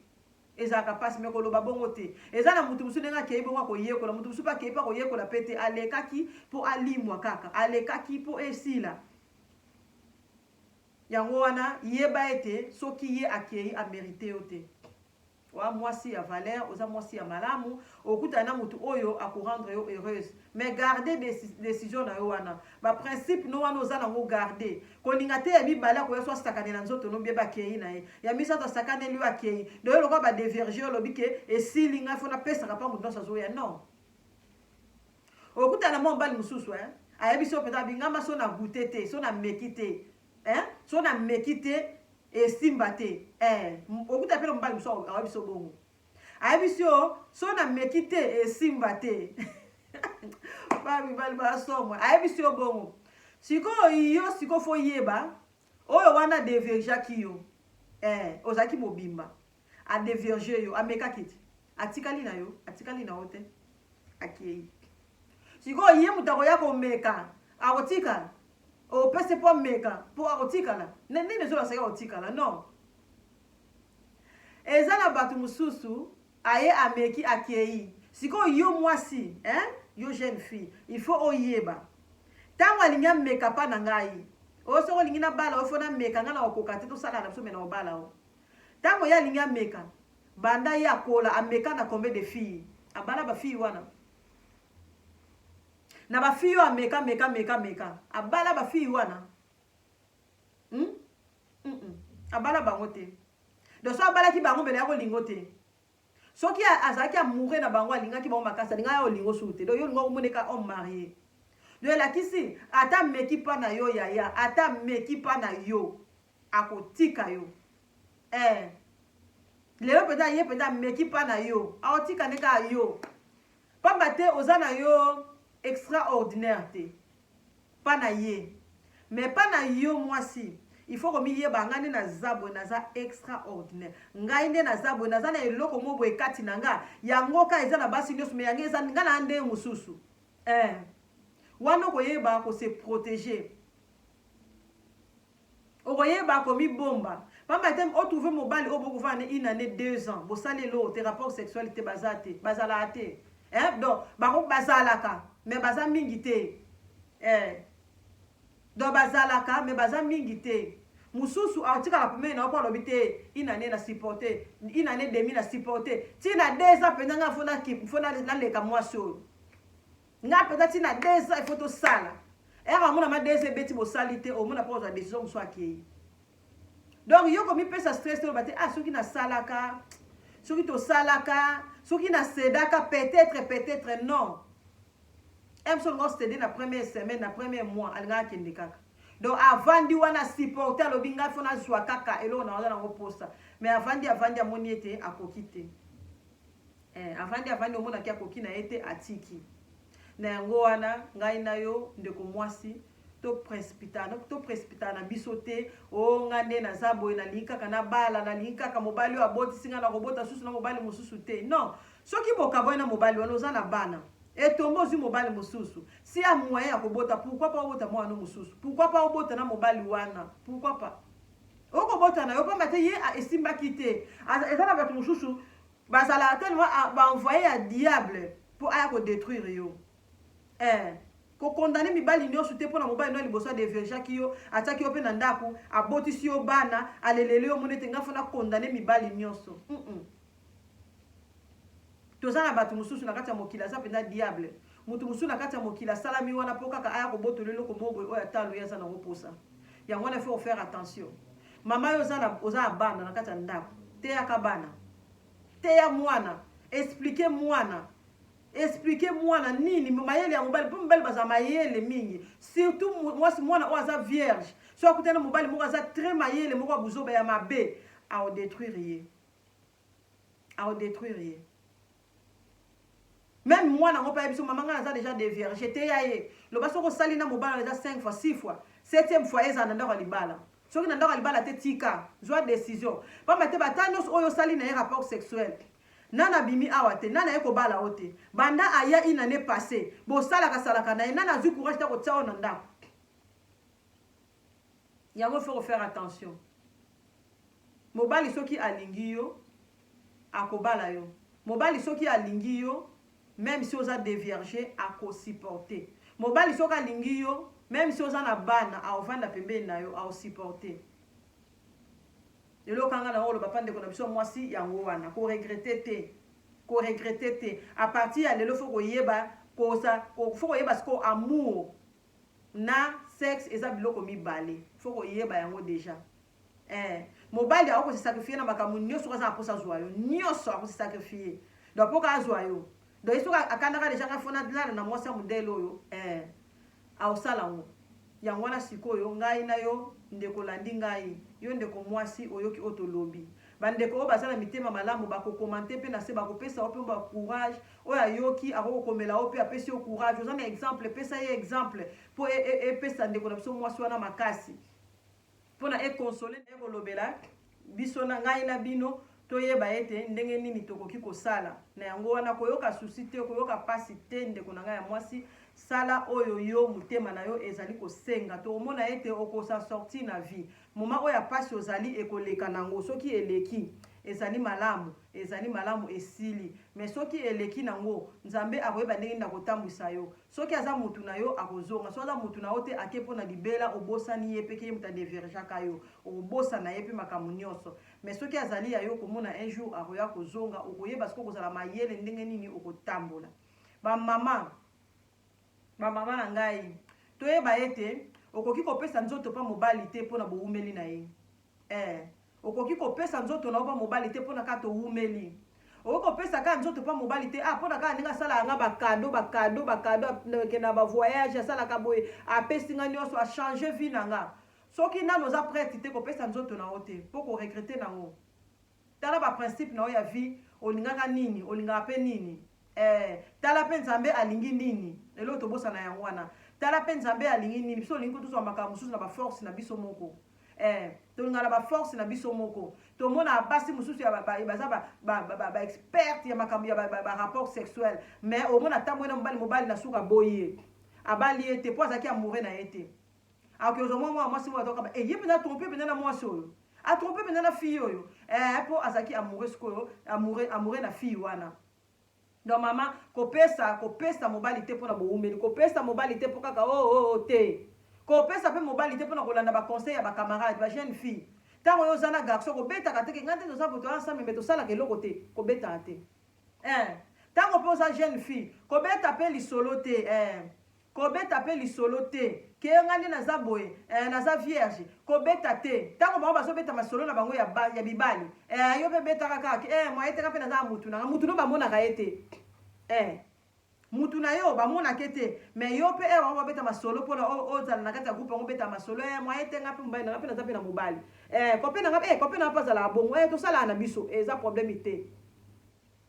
Ezalaka pasi mais koloba bongo te. Eza na mutu mosusu ndenge akeyi bongo akoyekola, mutu mosusu pe akeyi pe akoyekola pe te, alekaki po alimwa kaka, alekaki po esila. Yango wana yeba ete soki ye akeyi a merite yo te. Oa mwasi ya valeur, oza mwasi ya malamu, okutana na mutu oyo ako rendre yo heureuse mais garde decision na yo wana, ba principe no wana oza na ngo garde, Kolinga te ya mibale akoya so asakanela nzoto no bye bakeyi na ye ya misato asakaneli yo akeyi donc yo lokola ba devirge yo olobi ke esili ngai fo napesaka pa moto nionso azoya non okutana na mwa mobali mosusu hein ayebisi yo mpenza abi nga ma so na goute te so na meki te hein so na meki te esimba te eh okuta mpe na mobali mosusu ayebisi yo bongo ayebisi yo so na meki te esimba te ba mibali basomwa ayebisi yo bongo sikoyo yo sikoyo fo yeba oyo wana devirgeaki yo eh, ozalaki mobimba adevirge yo amekaki te atikali na yo atikali na yo te akei sikoyo ye moto akoya komeka akotikala opesi mpo ameka mpo akotikala nini ezolakisaki akotikala non Eza na batu mususu aye ameki akeyi sikoyo yo mwasi hein yo jeune fille il faut oyeba tangu alingi ameka pa na ngai oh soki olingi na bala yo faut na meka ngai nako koka te tosalana biso mais nako bala yo tangu ye alingi ameka banda ye akola ameka na combien de fille abala ba fille wana na ba fille oyo ameka meka meka meka abala ba fille wana hmm? Abala bango te. Donc soki abalaki bango mbele yako lingo te. Soki azalaki amoureux na bango alingaki bango makasi alinga yao lingo sou te. Donc yo lingo omone ka homme marie. Donc elakisi ata meki pa na yo yaya ata meki pa na yo akotika yo. Eh. Lelo peta ye peta meki pa na yo aotika ne ka yo. Pamba te oza na yo extraordinaire te. pas na ye mais pas na yo mwasi il faut komiyeba ngai nde naza boye naza extra ordinaire ngai nde naza boye naza na eloko moko boye kati na nga yango ka eza na basi nioso mais yango eza nga na nde mosusu eh wana okoyeba ko se proteger Okoyeba komibomba pamba te o trouver mobali oyo bo kovanda na ye une annee, deux ans bosali eloko te rapport sexuel te baza te bazalaka te eeh donc bako bazalaka mais baza mingi te eeh donc bazalaka mais baza mingi te mususu atikala pembeni na yo po alobi te une annee na supporte une annee demi na supporte ti na deux ans penza nga faut na faut na leka mwasi oyo Nga peza ti na deux ans il faut to sala. Ero amona ma deux ans ebeti bosali te omona po ozwa decision musu akeyi. Donc yo komi pesa stress te obate ah soki na salaka soki to salaka soki na sedaka peut-être peut-être non. Emson ngo cede na première semaine na première mois alingaka kende kaka. Donc avandi wana supporter alobi ngai fona zwa kaka eloko na wana nango posa. Mais avandi avandi amoni ete akoki te. Eh avandi avandi omonaki akoki na ye te atiki na yango wana ngai na yo ndeko mwasi to precipitana to precipitana na biso te o oh, nga nde naza boye nalingi kaka nabala nalingi kaka mobali oyo abotisi nga nakobota susu na mobali mosusu te non soki bokabwani na mobali wana oza na bana etombo ozwi mobali mosusu si ya moyen ya kobota pourkui pa obota mwana no mosusu pourkui pa obota na mobali wana pourkui pa okobota na yo pamba te ye esimbaki te eza na bato mosusu Bazalaka tellement a ba envoyer ya diable po aya ko detruire yo eeh ko condamne mibali nioso te pona mobali no ya liboso a devirgeaki yo atiaki yo pe na ndaku abotisi yo bana aleleli yo omoni ete nga faut na condamne mibali nioso humm toza na batu mususu na kati ya mokili aza penza diable mutu mususu na kati ya mokili asalami wana po kaka aya kobotolo eloko moko boye oyo ata aloyi aza nango posa yango wana il faut ko faire attention Mama yo oza na oza na bana na kati ya ndaku teyaka bana teya mwana explique mwana explique mwana nini mayele ya mobali mpo mibali bazala mayele mingi surtout mwasi mwana oyo aza vierge so akutana mobali moko aza très mayele moko ya buzoba ya mabe aodetruire ye aodetruire ye Meme mwana yango pe ayebi biso maman ngai naza dejà devierge teya ye loba soki osali na mobali wana dejà cinq fois six fois septième fois ezala na ndako ya libala soki na ndako ya libala te tika zwa decision pamba te ba temps nionso oyo osali na ye rapport sexuel nana abimi awa te nana aye kobala yo te banda aya une annee passe bosalaka salaka na ye nana azwi courage te akotia yo na ndako Yango faut ko faire attention. Mobali soki alingi yo akobala yo. Mobali soki alingi yo meme si oza devierge ako supporter. Mobali soki alingi yo meme si oza na bana aovanda pembeni na yo ao supporter. Lelo kanga na oloba pa ndeko na biso mwasi yango wana ko regretter te. Ko regretter te. A partir ya lelo faut koyeba kosa faut koyeba siko amour na sexe eza biloko mibale faut koyeba yango dejà eh mobali ako se sacrifier na makambo nioso soki aza na posa azwa yo nioso ako se sacrifier donc poka azwa yo donc ye soki akandaka dejà ngai fona lala na mwasi ya modele oyo eh aosala yango yango wana sikoyo ngai na yo ndeko landi ngai yo ndeko mwasi oyoki oyo tolobi Ba ndeko oyo baza na mitema malamu ba ko commenter pe na se ba ko pesa yo pe mua courage, oyo ayoki akoki ko komela yo pe apesi yo courage, oza na exemple pesa ye exemple po epesa ndeko na biso muasi wana makasi pona e consoler naye ko lobela biso na ngai na bino to yeba ete ndenge nini tokoki ko sala na yango wana ko yoka souci te ko yoka pasi te ndeko na ngai ya muasi sala oyo yo motema na yo ezali ko senga to omona ete oko sa sortir na vie Moment oyo ya pasi ozali ekoleka nango soki eleki ezali malamu ezali malamu esili mais soki eleki nango nzambe akoyeba ndenge nini akotambuisa yo soki aza mutu nayo akozonga soki aza mutu nayo te ake pona libela obosani ye pe ke ye mutu adevirijaka yo okobosana ye pe makambu nioso mais soki azali ya yo okomona un jour akoya kozonga okoyeba sikoyo okozala mayele ndenge nini okotambola ba maman Bamama na ngai, toyeba ete okoki kopesa nzoto mpa mobali te mpo na boumeli na ye. Ee, okoki kopesa nzoto na yo mpa mobali te mpo na kaka toumeli. Okoki kopesa kaka nzoto mpa mobali te, ah, mpo na kaka ndenge asalaka nga bakado, bakado, bakado, akende na bavoyage, asalaka boye, apesi nga nyonso, achange vie na nga. Soki nanu oza prete te, kopesa nzoto na yo te, mpo okoregrete na yango. Tala ba principe na yo ya vie olingaka nini olingaka pe nini eh tala pe nzambe alingi nini eloko tobosana yango wana tala pe nzambe alingi nini biso olingi kotozwa makambo mosusu na ba force na biso moko eh tolinga na ba force na biso moko tomona basi mosusu ya baza ba, ba, ba, ba, ba experte ya makambo ya ba, ba, ba rapport sexuel mais omona tambwe na mobali mobali na suka boye abali ye te po azalaki amoureux na ye te Akoki kozwa mwa mwana mwasi moko ato kaba. Eh, ye pena trompe pena na mwasi oyo. A trompe pena na fille oyo. Eh, po azalaki amoureux sikoyo, amoureux, amoureux na fille wana. Donc mama, kopesa, kopesa mobali te pona bowumeli. Kopesa mobali te po kaka oh, oh, oh, te. Kopesa pe mobali te pona kolanda ba conseils ya ba camarades, ba jeunes filles. Tango yo oza na garçon, kobetaka te ke nga nde toza boye toza ensemble mais tosalaka eloko te. Kobetaka te. Eh. Tango pe oza jeune fille, kobeta pe lisolo te. Eh. Kobeta pe lisolo te kiee nga nde naza boye eeh naza vierge kobeta te tango bango bazo beta masolo na bango ya bibali eeh yo pe betaka kaka kiee moyen te nga pe naza na mutu nanga mutu no bamonaka ye te eeh mutu nayo bamonaka ye te mais yo pe heure bango babeta masolo pona ozala na kati ya groupe yango obeta masolo eeh moyen te nga pe mobali nanga pe naza pe na mobali eeh copain nanga eeh copain nanga pe azalaka bongo eeh tosalaka na biso eza probleme te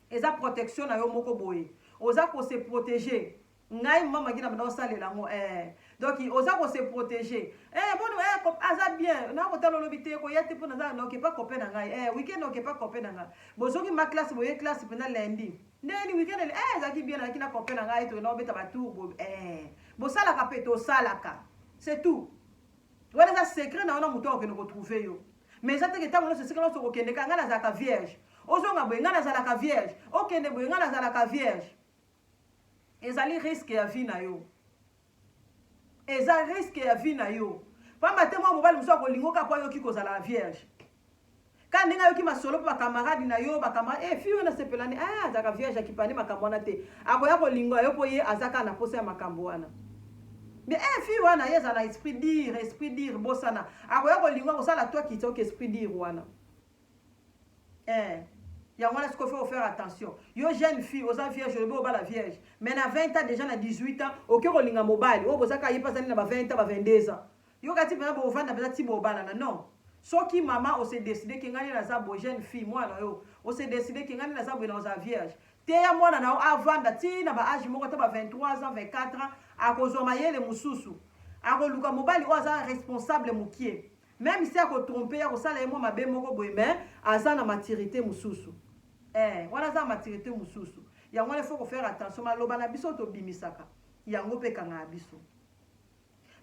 eza protection nayo moko boye oza ko se proteger Ngai maman Maggie na banda osalela yango eh donc oza ko se protéger eh moni eh kop aza bien na ko tala lobi te ko yate pona za na ke pas copain na ngai eh week-end na ke pas copain na ngai bozoki ma classe boye classe pena lundi ndeni week-end ele eh zaki bien na ki na copain na ngai to na obeta ba tour bo eh bosala ka pe to sala ka c'est tout wana eza secret na wana moto akokende kotrouve yo mais eza teke ntango nyonso esika nyonso okokendeka ngai nazalaka vierge ozonga boye ngai nazalaka vierge okende boye ngai nazalaka vierge Ezali risque ya vie na yo. Eza risque ya vie na yo. Pamba te mwa mobali mosusu akolingo kaka po ayoki kozala vierge. Kaka ndenge ayoki masolo pe bakamarade na yo, bakamarade, eh, fille oyo nasepelani, eh, azalaka vierge, akipani makambo wana te. Akoya kolinga yo po ye aza kaka na posa ya makambo wana. Mais eh, fille wana ye azala esprit dire, esprit dire, bosana. Akoya kolinga kosala toi kitoko esprit dire wana. eh yango wana sikoyo faut faire attention yo jeune fille oza vierge olobi obala vierge mais na 20 ans déjà na 18 ans oke kolinga mobali oyo bozaka ye mpe azali na ba 20 ans ba 22 ans yo kati mpenza bovanda mpenza ti bobalana non soki mama ose decide ke ngai nde naza boye jeune fille mwana yo ose decide ke ngai nde naza boye na ozala vierge teya mwana na yo avanda ti na ba age moko ata ba 23 ans 24 ans akozwa mayele mosusu akoluka mobali oyo aza responsable mokie Meme si ako trompe ye akosala ye mwa mabe moko boye mais aza na maturite mususu eh wana aza na maturite mususu yango wana il faut ko faire attention maloba na biso tobimisaka yango pe ekangaka biso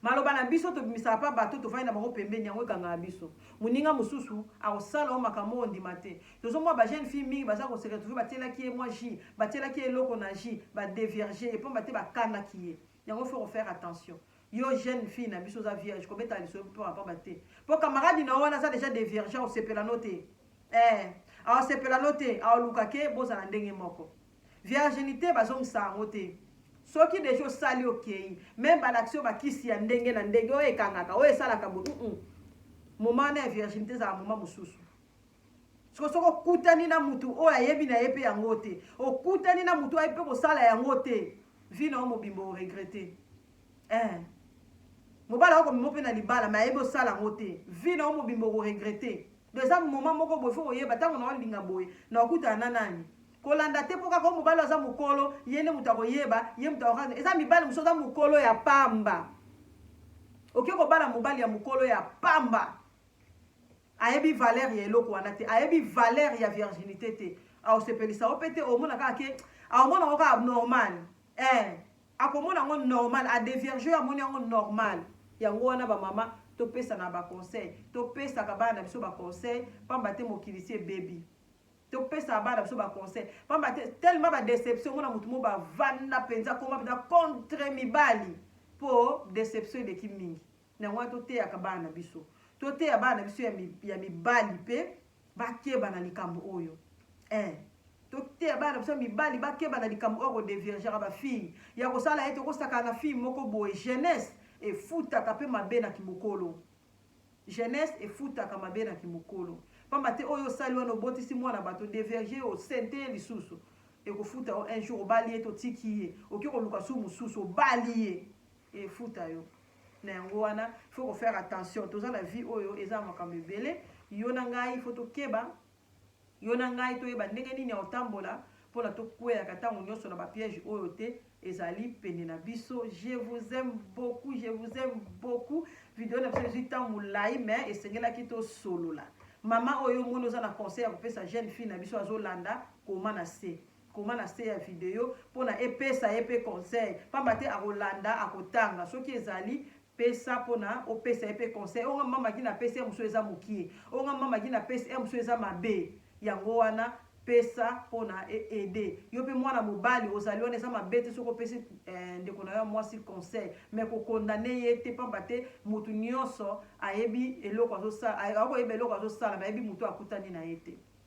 maloba na biso tobimisaka pa bato tovandi na bango pembeni yango ekangaka biso moninga mosusu akosala o makambo oyo ondima te tozomona ba jeune fille mingi baza koseka tuve batielaki ye mwa ji batielaki ye eloko na ji badevierge epamba te bakangaki ye Yango faut ko faire attention. Yo jeune fille na biso oza vierge kobeta lisolo pamba pamba te. Po camarade na wana aza deja de vierge au sepela no te. Eh, au sepela no te, au luka ke bozala ndenge moko. Virginité bazongisa yango te. soki deja osali okei meme balakisi yo bakisi ya ndenge na ndenge oyo ekangaka oyo esalaka bo mm -mm. moma wana ya virginité ezala moma mosusu siko soki okutani na mutu oyo ayebi na ye mpe yango te okutani na mutu ayebi mpe kosala yango te vi na yo mobimba oregrete eh. mobali ako komema mpe na libala me ayebi osala yango te vi na yo mobimba okoregrete do eza moma moko boye fo koyeba ntango na olinga boye na okutana na nani kolanda te mpo kaka mobali aza mokolo ye nde moto akoyeba ye moto akokaa eza mibali mosusu aza mokolo ya pamba oke kobala mobali ya mokolo ya pamba Ayebi valeur ya eloko wana te. Ayebi valeur ya virginite te. Akosepelisa yo pe te. Okomona kaka ke akomona yango kaka normal. Ee, akomona yango normal. A devierger yo amoni yango normal. Yango wana ba mama topesana ba conseil. Topesaka bana na biso ba conseil pamba te mokili esi ebebi. Topesaka bana na biso ba conseil pamba te tellement ba deception omona mutu mo bavanda penza akoma penza contre mibali po deception eleki mingi. Na yango wana toteyaka bana na biso, toteya bana na biso ya mibali mpe bakeba na likambo oyo eh. Toteya bana na biso ya mibali bakeba na likambo oyo kodeviergaka bafille, ya kosala ete okosakana na fille moko boye. Jeunesse efutaka mpe mabe na kimokolo, jeunesse efutaka mabe na kimokolo. Pamba te oyo osali wana, obotisi mwana bato, devierge ye, osente ye lisusu, ekofuta yo un jour. Obali ye te, otiki ye, oke koluka su mosusu, obali ye. efuta yo na yango wana faut ko faire attention toza na vie oyo eza na makambo ebele yo na ngai faut tokeba yo na ngai toyeba ndenge nini ya kotambola mpona tokweyaka ntango nyonso na bapiège oyo te ezali pene na biso je vous aime beaucoup je vous aime beaucoup video na biso ezwi ntango molai mais esengelaki tosolola mama oyo omoni oza na conseil ya kopesa jeune fille na biso azolanda koma na se Koma na se ya video mpo na epesa ye mpe conseil, pamba te akolanda akotanga soki ezali pesa mpo na opesa ye mpe conseil. Oyo nga mama ki na pesi ya mosusu eza mokie, oyo nga mama ki na pesi ya mosusu eza mabe. Yango wana pesa mpo na e aider. Yo mpe mwana mobali ozali wana eza mabe te soki opesi ndeko na yo ya mwasi conseil, mais ko condamner ye te pamba te mutu nionso ayebi eloko azo sala, akoki koyeba eloko azo sala mais ayebi mutu oyo akutani na ye te.